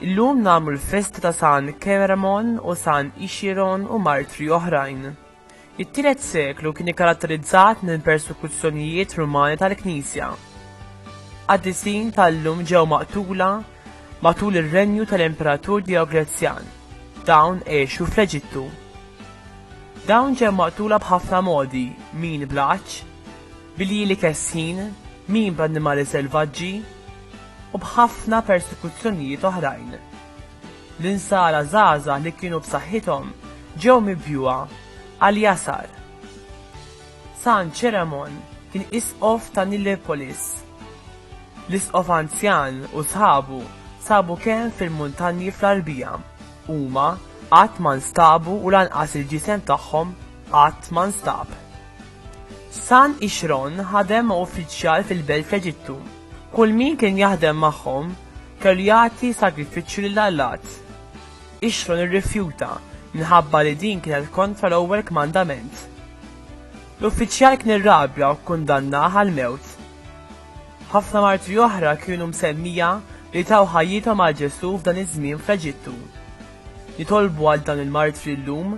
Illum nagħmlu l-festa ta' San Keremon u San Ixiron u martri oħrajn. It-tielet seklu kien ikkaratterizzat minn persekuzzjonijiet Rumani tal-Knisja. Qaddisin tal-lum ġew maqtula matul ir-renju tal-Imperatur Dioglezzjan. Dawn għexu fl-Eġittu. Dawn ġew maqtula b'ħafna modi, min bl-għatx, bil-jili kesħin, min bl-annimali selvaġġi, u b'ħafna persekuzzjonijiet oħrajn. L-insara żgħażagħ li kienu b'saħħithom ġew mibjugħa għal jasar. San Ċeremon kien isqof ta' Nilirpolis. L-isqof anzjan u sħabu sabu kemm fil-muntanji fl-għarbija. Huma qatt ma nstabu u lanqas il-ġisem tagħhom qatt ma nstab. San Ixron ħadem ma' uffiċjal fil-belt fl-Eġittu. Kull min kien jaħdem magħhom Kellu jagħti sagrifiċċju lil Allat. Ixron irrifjuta, minħabba li din kienet kontra l-ewwel kmandament. L-uffiċjal kien irrabja u kkundannah għall-mewt. Ħafna martri oħra kienu msemmija li taw ħajjithom għal Ġesù f'dan iż-żmien fl-Eġittu. Nitolbu għal dawn il-martri llum.